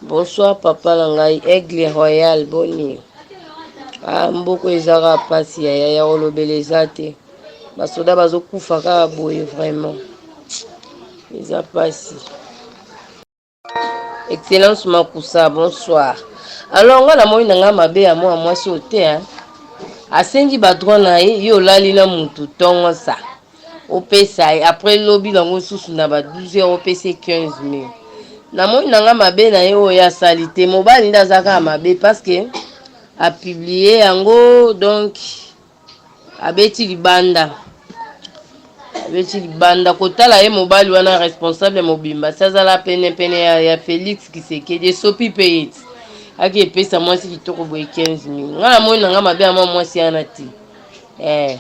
Bonsoir papa na ngai aigle royal boni ah, mboko ezaka pasi ya yaya olobela eza te basoda bazokufa kaka boye vraiment eza pasi excellence makusa bonsoir alors nga namoni na ngai mabe ya mwana mwasi oyo te asengi badroit na ye yo olali na mutu tongo sa Opesa ye après lobi na ngo susu na ba 12 heures opesa ye 15000 na moni na nga mabe na ye oyo ya sali te mobali nde aza kaka mabe parce que a publier yango donc abeti libanda abeti libanda kotala ye mobali wana responsable mobimba si azala pene pene ya, ya Felix Kisekedi esopi pe ye ti ake epesa mwasi kitoko boye 15000 nga na moni na nga mabe ya mwa mwasi yana te eh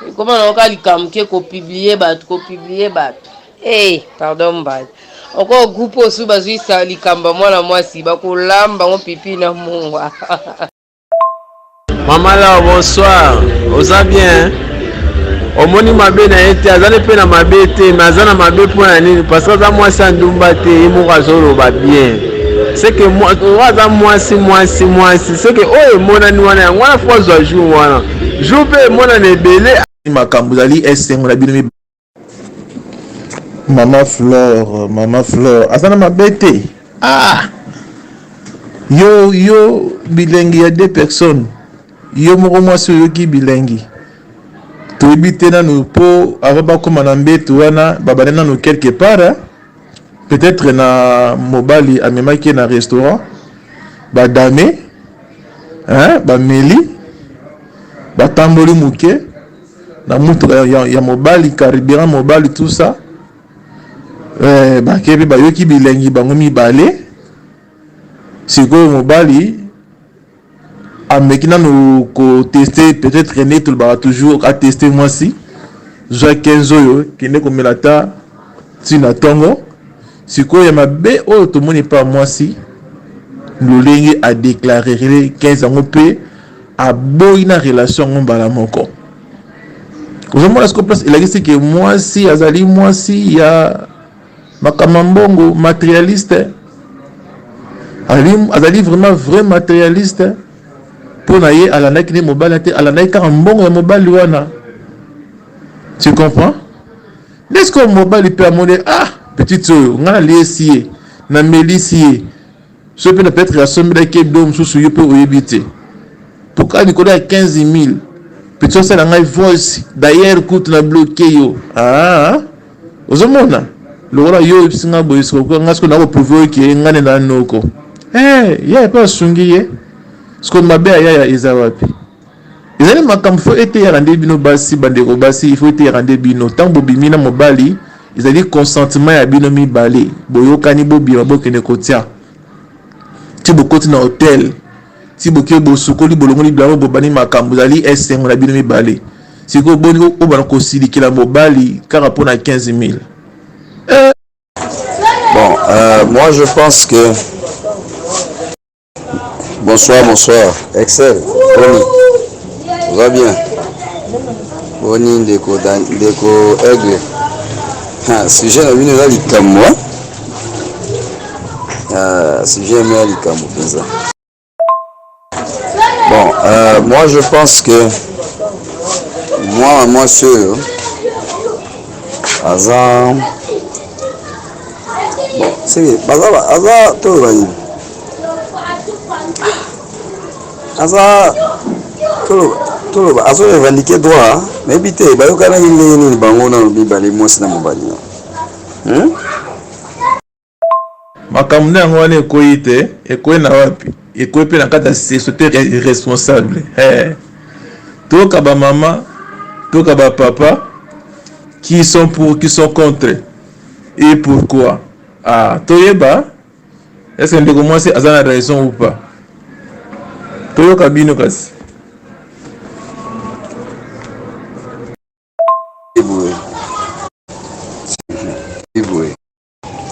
Ekoma na oka likambo ke ko publier bato, ko publier bato. Hey, pardon mbadi. Oko groupe osu bazui sa likambo ya mwana mwasi bakolamba ngo pipi na mungwa. Maman Laure bonsoir oza bien omoni mabe na ye te azali mpe na mabe te me aza na mabe mpo na nini parce que aza mwasi ya ndumba te ye moko azoloba bien seke oyo aza mwasi mwasi mwasi seke oyo emonani wana yango wana fo azwa jour wana jour mpe mwana na ebele makambo ezali esengo na bino mibale mama flore mama flore aza na mabe te ah yo yo bilengi ya deux personnes yo moko mwasi oyoki bilengi toyebi te nanu mpo avant bakóma na mbetu wana babanda nanu quelque part peut etre na mobali amemaki ye na restaurant ba dame hein bameli batamboli moke na motuka ya, ya, ya mobali carburant mobali tout ça eh, bakebi bayoki bilengi bango mibale sikoyo mobali ameki nanu ko tester peut être nde tolobaka toujours a tester mwasi zwa 15 oyo kende komela ata ti na tongo sikoyo ya mabe oyo tomoni epa mwasi lolenge a declarer 15 yango mpe aboyi na relation yango mbala moko ozomona siko place elakisi ke mwasi azali mwasi ya Makama mbongo materialiste azali vraiment vrai materialiste mpo na ye alandaki nde mobali te alandaki kaka mbongo ya mobali wana tu comprends nde sikoyo mobali mpe amoni ah petite oyo ngai naliesi ye namelisi ye soki mpe na peut-être asombelaki ye biloko mosusu yo mpe oyebi te pourquoi likolo ya 15000 petit osala ngai voice d'ailleurs kutu na bloke yo ah, ozomona lokola yo oyebisi ngai boye sikoyo ngai sikoyo nakoprouve oyo ke ngai nde na noko eh, ye mpe asungi ye sikoyo mabe ya yaya eza wapi Ezali makambo faut eteyaka nde bino basi bandeko basi il faut eteyaka nde bino ntango bobimi na mobali ezali consentement ya bino mibale boyokani bobima bokende kotia ti bokoti na hotel ti boke bosukoli bolongoli bilamo bobani makambo ezali esengo na bino mibale sikoyo boni obana kosilikela mobali kaka mpo na 15 000 eh. bon euh, moi je pense que Bonsoir, bonsoir. Excel, Boni. Va bien. Boni ndeko Dan- ndeko Aigle. Ha, sujet na bino eza likambo. hein? Ah, sujet yango ya likambo mpenza. Bon, euh, moi je pense que mwana mwasi oyo aza bon, seke baza ba- aza toloba nini aza toloba azo revendique droit nayebi te bayokanaki ndenge nini bango na mibale mwasi na mobali hmm? makambo nde yango wana ekwei te ekwei na wapi ekwei mpe na kati ya société responsable eh. toyoka bamama toyoka bapapa qui sont pour qui sont contre et pourquoi ah, toyeba Est-ce que ndeko mwasi aza na raison ou pas? Toyoka bino kasi.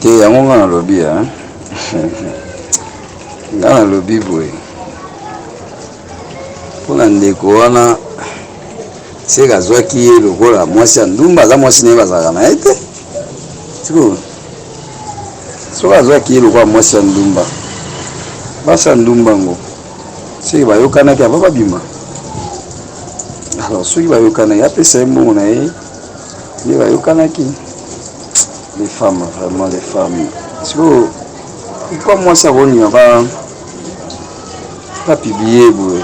te yango nga nalobi nga nalobi boye mpo na ndeko wana seke azwaki ye lokola mwasi ya ndumba aza mwasi na ye bazalaka na ye te sikoyo soki azwaki ye lokola mwasi ya ndumba basi ya ndumba yango soki bayokanaki ava babima alors soki bayokanaki apesa ye mbongo na ye nde bayokanaki les femmes vraiment les femmes sikoyo pourquoi mwasi akolinga ba bapiblie boye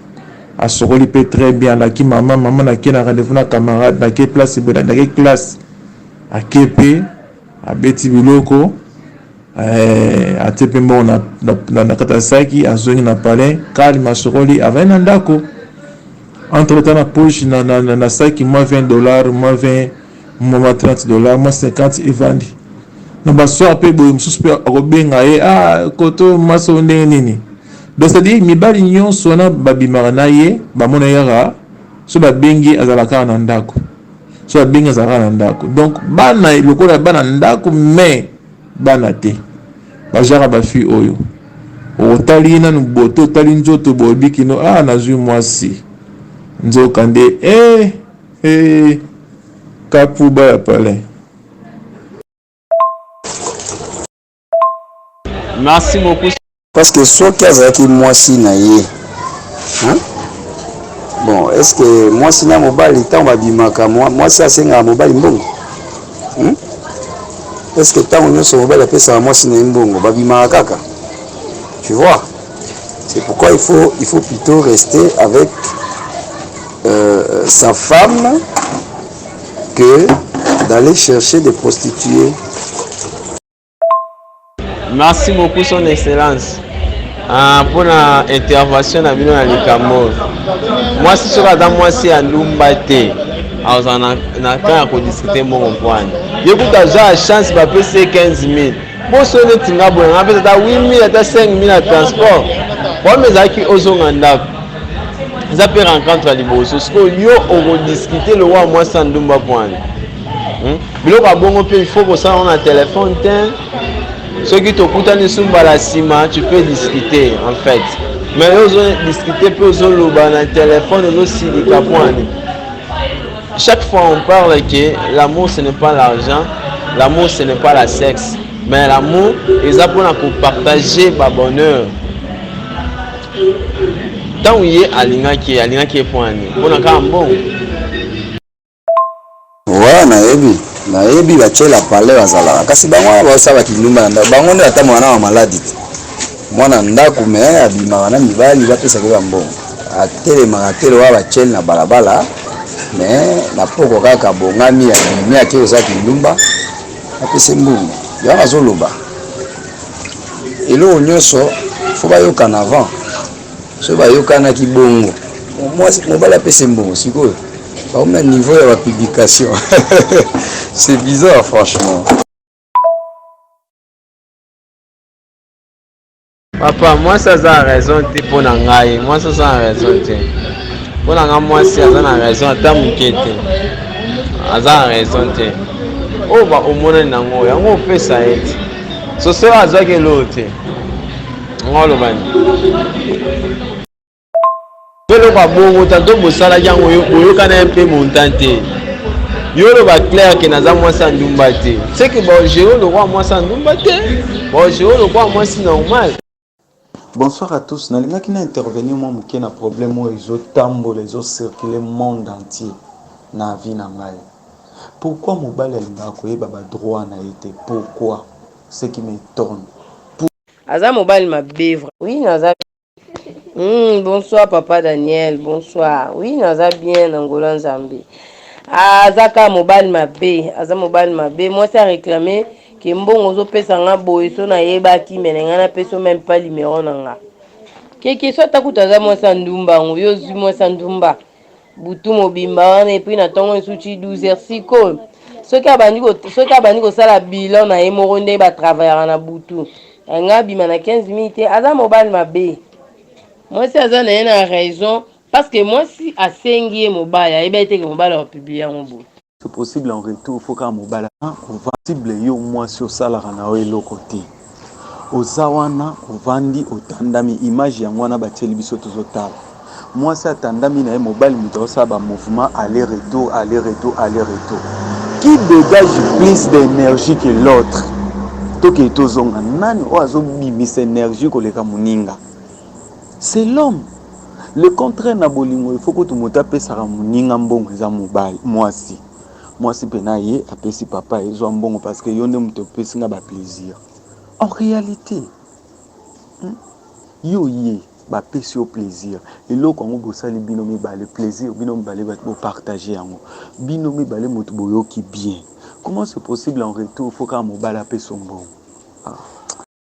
asokoli pe très bien alaki maman maman nake na rendez-vous na camarade nake place boye nake classe ake pe abeti biloko eh, atie pe mbongo na, na, na, na kata saki azongi na palais calme asokoli avandi na ndako entre temps na poche na, na, na, na saki moins 20 dollars moins 20 mwa 30 dollars mwa 50 evandi na basoir mpe boye mosusu mpe akobenga ye ah, koto maso ndenge nini donc cetadire mibali nyonso wana babimaka na ye bamona ye kaka so babengi azala kaka na ndako so babengi azala kaka na ndako donc bana lokola bana ndako mais bana te bajaka bafille oyo otali ye nanu boto otali nzoto boyebi kino ah nazwi mwasi nzoka nde eh Hee kapuba ya palais. Merci beaucoup. Parce que soki azalaki mwasi na ye hein? Bon, est-ce que mwasi na mobali ntango babimaka mwasi asengaka mobali mbongo hmm? Est-ce que ntango nyonso mobali apesaka mwasi na ye mbongo babimaka kaka? Tu vois? C'est pourquoi il faut, il faut plutôt rester avec euh, sa femme que d'aller chercher des prostituées. Merci beaucoup, Son Excellence. Ah, pour na intervention na bino na likambo mwasi soki aza mwasi ya ndumba te azala na temps ya kodiskute mbongo mpwani ye kutu azwa ya chance bapesi ye 15 000 poso neti nga boye nga pesa ata 8000 ata 5000 na transport problème ezalaki ozonga ndako eza mpe rencontre ya liboso sikoyo yo okodiskute lokola mwasi ya ndumba pwani hmm? biloko ya bongo mpe ilfaut kosala ngo na telefone te soki tokutani su mbala nsima tu peux discuter en fait mais yo ozodiscute mpe ozoloba na telefone ozosilika pwani Chaque fois on parle que l'amour ce n'est pas l'argent, l'amour ce n'est pas la sexe, mais l'amour eza pona ko partager ba bonheur. Tant ye alingaki alingaki pona ni pona kaka mbongo. Ouais, nayebi nayebi batyela pale bazalaka kasi bango wana baosala bakindumba na ndako bango nde ata mwana wa maladi te Mwana ndaku mais abimaka na mibali bapesaka ye ba mbongo. Atelemaka te lokola ba tshel na balabala mais na pokwa kaka abongami abimi ake koza kindumba apesi mbongo. Yango nazoloba eloko nyonso faut bayokana avant. Soki bayokanaki bongo mwasi mobali apesi mbongo sikoyo bakomi na niveau ya ba publication c'est bizarre franchement. papa mwasi aza na raison te mpo na ngai mwasi aza na raison te mpo na ngai mwasi aza na raison ata moke te aza na raison te oyo baomonani nango yango opesa ye te soso azwaki eloo te yango alobani eloko ya bongo tanto bosalaki yango boyokana ye mpe montan te yo oloba claire ke naza mwasi ya ndumba te seke baogeo lokola mwasi ya ndumba te baogeo lokola mwasi normal bonsoir à tous nalingaki na intervenir mwa moke na problème oyo ezotambola ezocircule monde entier na vie na ngai pourquoi mobali alingaka koyeba badroit na ye te pourquoi ce qui m'étonne aza mobali mabe oui naza Mm, bonsoir papa Daniel, bonsoir. Oui, naza bien na Angola Nzambe. Ah, aza ka mobali mabe, aza mobali mabe. Moi ça réclamer que mbongo ozo pesa nga boye so na yeba ki mene nga na peso même pas numéro na nga. Keke so atakuta aza moi ça ndumba ngo yo zui moi ça ndumba. butu mobimba wana epui na ntongo mosusu ti 12 heures sikoyo soki abandi soki abandi kosala bilan na ye moko ndenge batravayaka na butu yango abima na 15 minutes te aza mobali mabe mwasi aza na ye na raison parce que mwasi asengi ye mobali ayebi ayeteke mobali akopublie yango boye C'est possible en retour faut kaka mobali ovasible yo mwasi osalaka na yo eloko te oza wana ovandi otandami image yango wana batieli biso tozotala mwasi atandami na ye mobali moto aosala bamouvement aller retour aller retour aller retour qui dégage plus d'énergie que l'autre tokei tozonga nani oyo azobimisa énergie koleka moninga c'est l'homme le contraire na bolingo il faut kutu moto apesaka moninga mbongo eza mobali mwasi mwasi mpe na ye apesi papa ezwa mbongo parce que yo nde moto opesi nga ba plaisir en réalité hmm? yo ye bapesi yo plaisir eloko yango bosali bino mibale plaisir bino mibale bopartage yango bino mibale moto boyoki bien comment c'est possible en retour fo kaka mobali apesa mbongo ah.